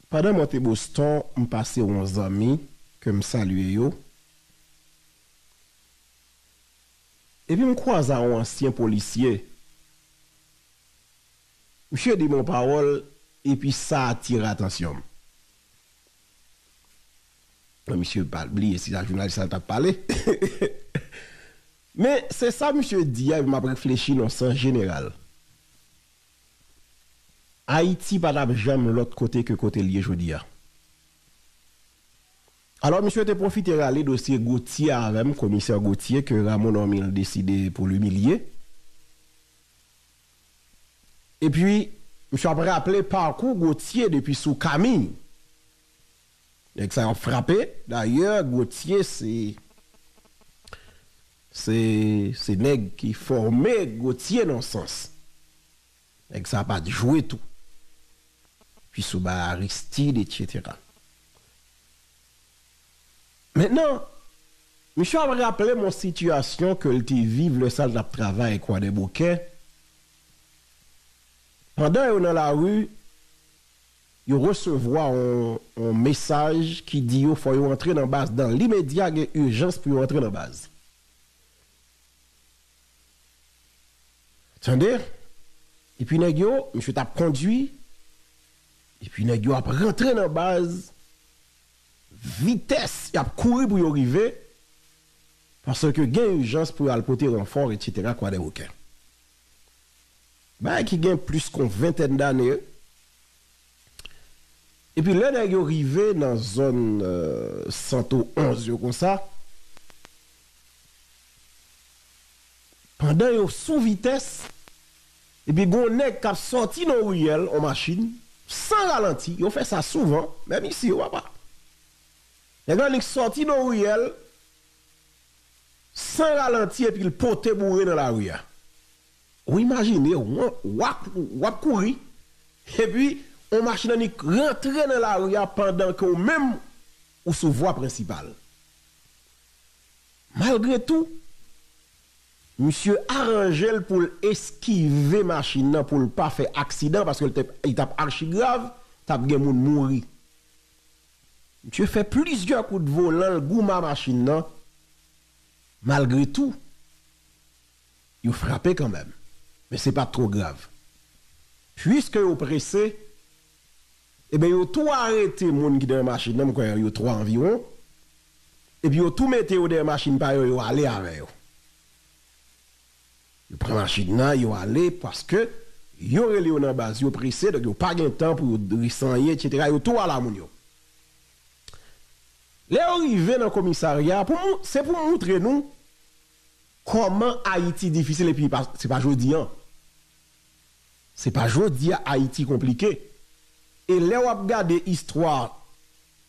Pandan mwen te Boston, m pase won zanmi ke m salye yo, epi m kwaze a won ansyen polisye. Msye di m won pawòl, epi sa atire atansyon m. Mwen msye pa bliye si sa jounalis la ta pale. Men, se sa msye di a epi m ap reflechi nan sans jeneral. Ayiti pa tap janm lòt kote ke kote l ye jodi a. Alò misye te pwofite rale dosye Gauthier avè m, komisè Gauthier ke Rameau Normil deside pou l imilye. Epi misye ap raple pakou Gauthier depi sou Camille. Nèg sa yo ap frape. Dayè Gotye se se se nèg ki fòme Gotye nan sans. Nèg sa pat jwe tou. Pi sou ba Aristide etc. Mentnan misye ap raplem yon sitiyasyon ke l te viv lè sa l tap travay Kwadèboukè pandan yo nan lari. Yo resevwa yon mesaj ki di yo fò yo antre nan baz dan limedya gen ijans pou yo antre nan baz. Tande, epi nèg yo, misye tap kondwi, epi nèg yo ap rantre nan baz, vitès yap kouri pou yo rive, paske gen ijans pou yo al pote ranfò, etc. Kwadèboukè. Bagay ki gen plis kon ventèn dane. Epi lè nèg yo rive nan zòn Santo 11 yo konsa, pandan yo sou vitès, epi gon nèg k ap sòti nan yon riyèl an machin, san ralanti, yo fè sa souvan, menm isi yo papa. Nèg la annik sòti nan yon riyèl, San ralanti epi l pote boure nan lari a. Ou imajine w, w ap, w ap kouri, epi yon machin annik rantre nan lari a pandan ke w menm ou sou vwa prensipal. Malgre tou, misye aranje l pou l eskive machin nan pou l pa fè aksidan paske li t ap achigrav, t ap gen moun mouri. Misye fè plizyè kout volan l goumen a machin nan, malgre tou, yo frape kanmenm, men se pa t twò grav. Puiske yo prese, eben yo tou arete moun ki te nan machin nan, m kwè yo twa anviwon, epi yo tou mete yo dèyè machin pa yo, yo ale avè yo. Yo pran machin nan yo ale paske yo rele yo nan baz yo prese donk yo pa gen tan pou yo resanyen etc yo tou al a moun yo. Lè yo rive nan komisarya pou mou se pou moutre nou kòman Ayiti difisil epi se pa jodi an. Se pa jodi a Ayiti konplike. E lè wap gade istwa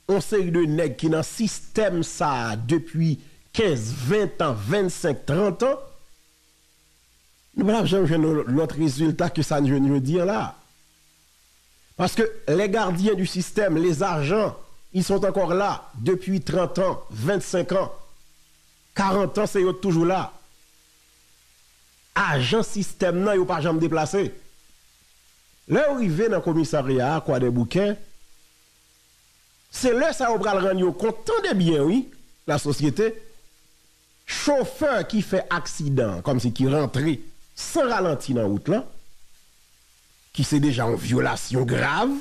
on seri de nèg ki nan sistèm sa a depi 15, 20 tan, 25, 30 tan, nou pa tap janm jwenn on lòt rezilta ke sa n jwenn jodi an la a. Paske les gardiens du système, les agents, ils sont encore là depuis 30 ans, 25 ans. 40 ans e yo t toujou la. Ajan sistèm nan yo pa janm deplase. Lè yo rive nan komisarya a kwadèboukè se lè sa yo pral rann yo kont tande byen wi la sosyete chofè ki fè aksidan kòmsi ki rantre san ralanti nan wout lan ki se deja yon vyolasyon grav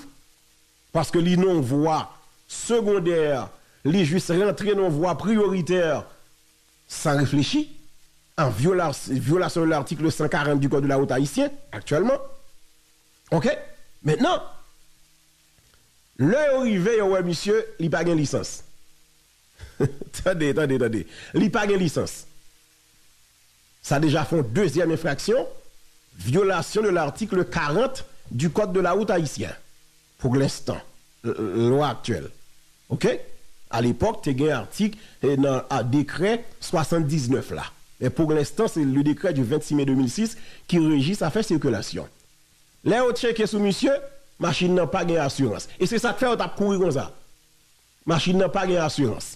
Paske li non vwa segondè, li jis rantre non vwa priyoritè san reflechi, an vyolasyon de l'article 140 du code de la route haïtien aktyèlman. Ok. Mentnan, lè yo rive yo wè misye, li pa gen lisans. Tande, tande, tande. Li pa gen lisans. Sa deja fè yon dezyèm enfraksyon, vyolasyon de l'article 40 du code de la route haïtien, pour l'instant, lwa aktyèl. Ok? A l'epoque te gen artik nan dekrè 79 la. Men pour l'instant se le décret du 26 mai 2006 ki reji zafè sikilasyon. Lè yo tcheke sou misye, machin nan pa gen asirans. E se sa k fè yo t ap kouri konsa. Machin nan pa gen asirans.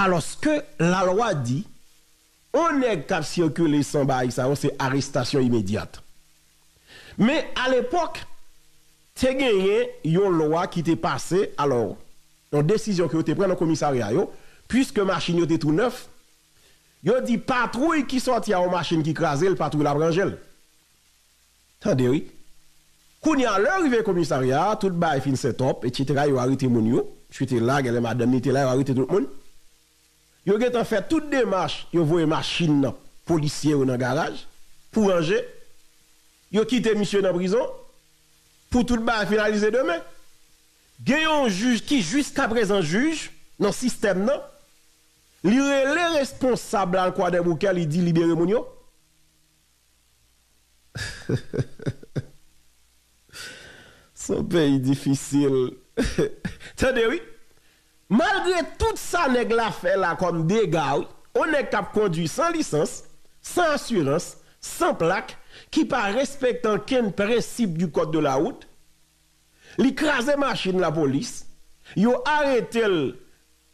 Alòske lalwa di, on nèg k ap sikile san baay sa yo se arestasyon imedyat. Men alepòk, te genyen yon lwa ki te pase, alò, yon desizyon ke yo te pran nan komisarya yo, puiske machin yo te tou nèf, yo di patwouy ki sòti a yon machin ki kraze l, patwouy la ap ranje l. Tande wi. Kounya lè rive komisarya a tout bagay fin sètòp etc yo arete moun yo, misye te la genlè madanm li te la yo arete tout moun. Yo gentan fè tout demach yo voye machin nan polisye yo nan garaj pou ranje, yo kite misye nan prizon pou tout bagay finalize demen. Gen yon jij ki jiskaprezan jij nan sistèm nan li rele responsab la nan kwadèboukè li di libere moun yo. Son peyi difisil tande wi. Malgre tout sa nèg la fè la kòm dega wi, on nèg kap kondwi san lisans, san asirans, san plak, ki pa respekte ankenn prensip du code de la route, li kraze machin lapolis, yo arete l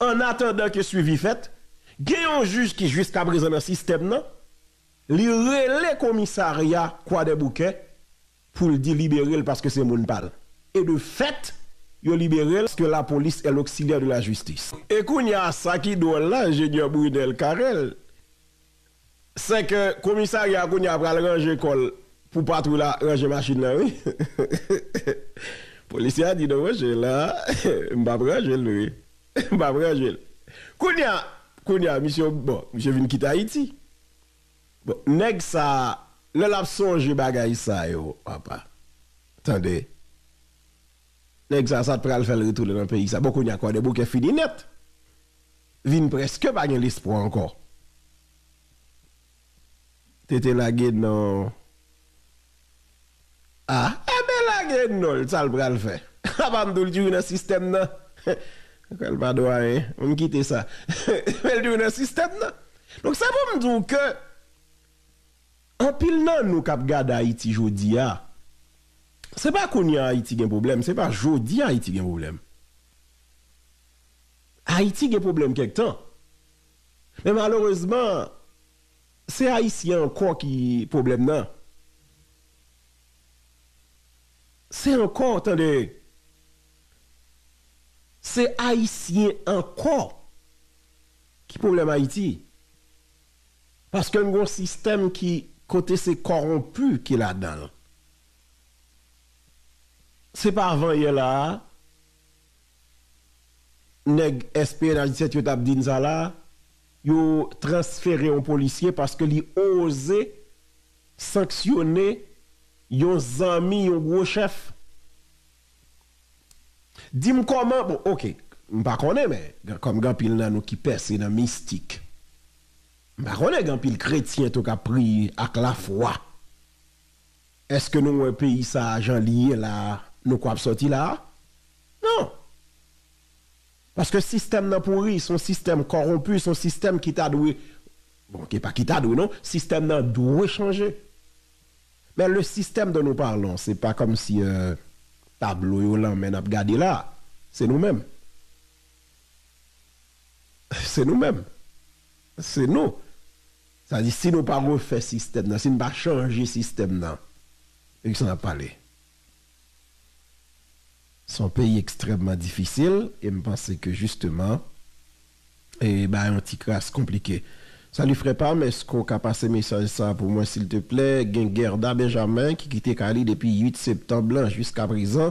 annatandan ke swivi fèt, gen yon jij ki jiskaprezan nan sistèm nan. Li rele komisarya kwadèboukè poul di liberel paske se moun pal. E de fèt yo liberel paske la police est l'auxiliaire de la justice. E kounya sa ki dwòl la Ingénieur Brunel Carel sè kè komisarya kounya pral ranje kòl pou patwouy la ranje machin lan wi. Polisye a di non monchè la m pap ranjel non wi. M pap ranje l. Kounya kounya misye bon misye vin kite Ayiti. Bon nèg sa lè lap sonje bagay sa yo apa tande nèg sa sa t pral fè l retounen nan peyi sa bon kounya kwadèboukè fini nèt vin prèske pa gen lespwa ankò. Tete lage nan ah enben lage non l sa l pral fè a pa m tou l tjou nan sistèm nan ou kwè l pa dwayen an m kite sa men l tjou nan sistèm nan donk se pou m di w ke anpil nan nou k ap gade Ayiti jodi a se pa kounye a Ayiti gen pwoblèm se pa jodi a Ayiti gen pwoblèm Ayiti gen pwoblèm kèk tan. Men malerezman se ayisyen ankò ki pwoblèm nan. Se ankò tande. Se ayisyen ankò ki pwoblèm Ayiti. Paske n gon sistèm ki kote se kòwonpi ki ladan l. Se pa avan yè la a. Nèg SPNH 17 yo tap din sa la, yo transfere yon polisye paske li oze sanksyone yon zanmi yon gwo chèf. Dim kòman, bon ok, m pa konnen men, kòm gen anpil nan nou ki pèse nan mistik, m pa konnen gen anpil kretyen tou kap priye ak lafwa. Eske nou wè peyi sa a jan li ye la a nou kwè ap sòti la a? Non! Paske sistèm nan pouri, son sistèm kòwonpi, son sistèm ki ta dwe, bon ki pa ki ta dwe non, sistèm nan dwe chanje. Men le système dont nous parlons se pa kòm si tablo yo lanmè nap gade la a, se nou menm. Se nou menm. Se nou. Sa di si nou pa refè sistèm nan, si nou pa chanje sistèm nan, de ki sa n ap pale? Se yon peyi ekstrèmman difisil e m panse ke jisteman e bagay yo ti kras konplike. Salut frè pa m, èske w ka pase mesaj sa pou mwen silteplè, gen Guerda Benjamin ki kite kay li depi 8 septanb lan jiskaprezan,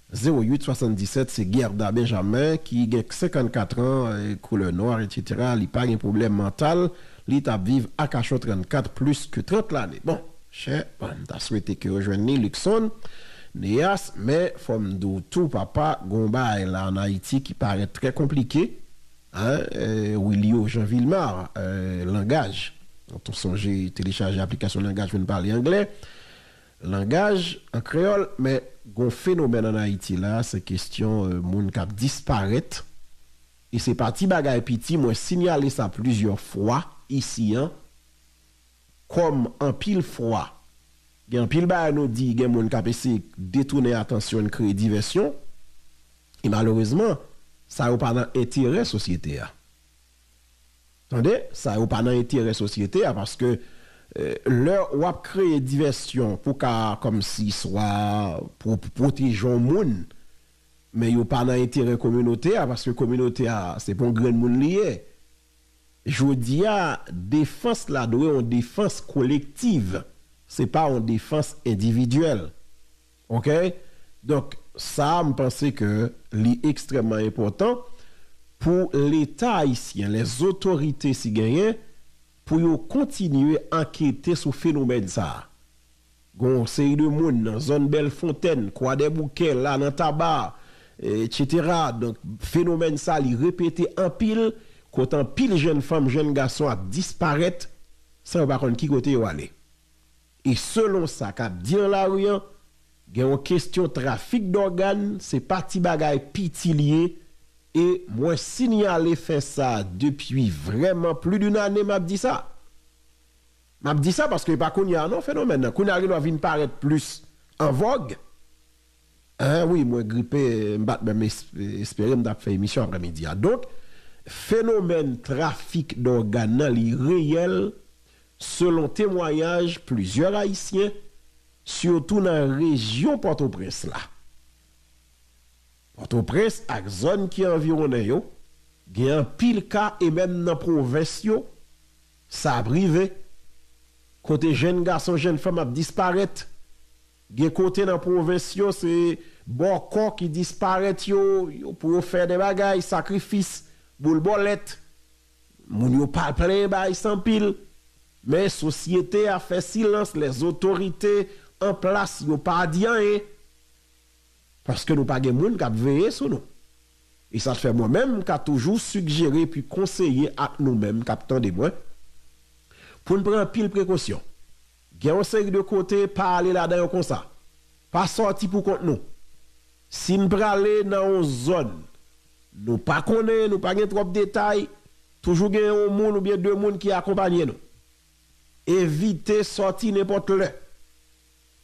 08 77 se Guerda Benjamin ki gen 54 ans couleur noir etc li pa gen problème mental li tap viv Arcachon 34 plus que 30 lane bon chè m ta swete ke yo jwenn li Luckson Neas men fòm di w tou papa gon baay la an Ayiti ki parèt trè konplike hein Wilio Jean Vilmar langaj tou sonje telechaje aplikasyon langaj pou n pale anglè. Langaj, an kreyòl, men gon fenomèn an Ayiti la, se kestyon moun kap disparèt, e se pa ti bagay piti, mwen sinyale sa plizyè fwa isi an, kòm anpil fwa gen anpil bagay nou di, gen moun kap eseye detounen atansyon n, kreye divèsyon, e malerezman sa yo pa nan enterè sosyete a. Tande, sa yo pa nan enterè sosyete a paske lè w ap kreye divèsyon pou ka kòmsi swa pwoteje yon moun men yo pa nan enterè kominote a paske kominote a se pou yon grenn moun li ye. Jodi a defans la dwe yon defans kolektiv se pa yon defans endividyèl. Ok donk sa m panse ke li ekstrèmman enpòtan pou leta ayisyen lè zotorite si genyen pou yo kontinye ankete sou fenomèn sa a gon yon seri de moun nan zòn bèl fontèn kwadèboukè la nan taba etc donk fenomèn sa li repete anpil kot anpil jèn fanm jèn gason ap disparèt san yo pa konn ki kote yo ale. E selon sa kap di nan lari an, gen yon kestyon trafik dògàn, se pa ti bagay piti li ye, e mwen sinyale fè sa depi vrèman pli d'un ane map di sa. Map di sa paske e pa kounya non fenomèn nan, kounya li dwa vin parèt plis an vòg. Enh wi mwen gripe m pat menm espere m tap fè emisyon aprè midi a donk fenomèn trafik dògàn nan li reyèl selon temwanyaj plizyè ayisyen sitou nan rejyon pòtoprens la pòtoprens ak zòn ki anviwonnen yo gen anpil ka e menm nan pwovens yo sa ap rive kote jenn gason jenn fanm ap disparèt. Gen kote nan pwovens yo se bòkò ki disparèt yo pou yo fè de bagay, sakrifis, boul bòlèt. Moun yo pa plen ba ice anpil. Men sosyete a fè silans lè zotorite an plas yo pa di anyen. Paske nou pa gen moun k ap veye sou nou. E sa fè mwen menm m ka toujou sigjere epi konseye ak nou menm k ap tande mwen pou n pran anpil prekosyon. Gen yon seri de kote pa ale ladan yo konsa. Pa sòti pou kont nou. Si n prale nan yon zòn nou pa konnen, nou pa gen twòp detay, toujou gen yon moun oubyen de moun ki akonpanye nou. Evite sòti nenpòt lè.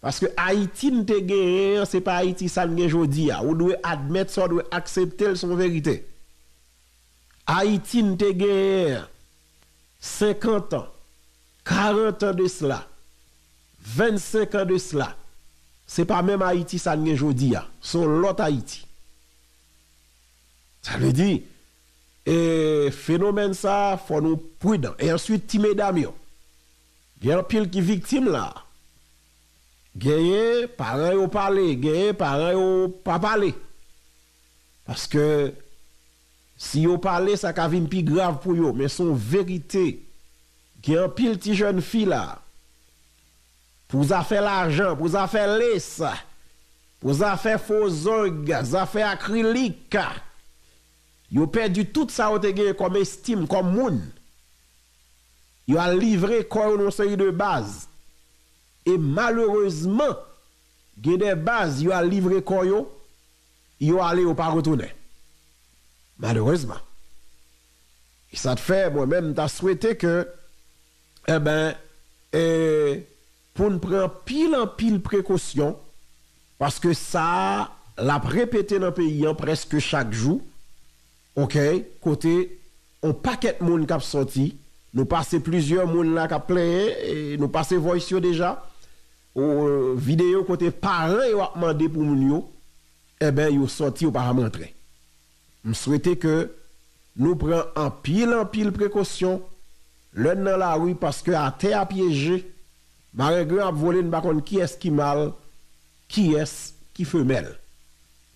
Paske Ayiti n te genyen an se pa Ayiti sa n gen jodi a. Ou dwe admèt sa w dwe aksepte l se yon verite. Ayiti n te genyen an 50 an, 40 an de cela, 25 an de cela, se pa menm Ayiti sa n gen jodi a, se yon lòt Ayiti. Sa vle di, e fenomèn sa a fò nou prudan. E answit ti medam yo, gen anpil ki viktim la a. Genyen paran yo pale, genyen paran yo pa pale. Paske. Si yo pale sa ka vin pi grav pou yo men son verite gen anpil ti jèn fi la pou zafè lajan pou zafè les pou zafè fo zong zafè akrilik yo pèdi tout sa yo te gen kòm estim kòm moun yo al livre kò yo nan yon seri de baz e malerezman gen de baz yo al livre kò yo Yo ale yo pa retounen. Malerezman. E sa t fè mwen menm m ta swete ke enben e pou n pran anpil anpil prekosyon paske sa l ap repete nan peyi an prèske chak jou ok kote on pakèt moun k ap sòti nou pase plizyè moun la k ap plenyen e nou pase voice yo deja Video kote paran yo ap mande pou moun yo enben yo sòti yo pa janm rantre. M swete ke nou pran anpil anpil prekosyon lè n nan lari paske atè a pyeje, marengren ap vole n pa konn kiyès ki mal kiyès ki femèl.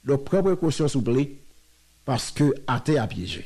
Donk pran prekosyon souple paske atè a pyeje.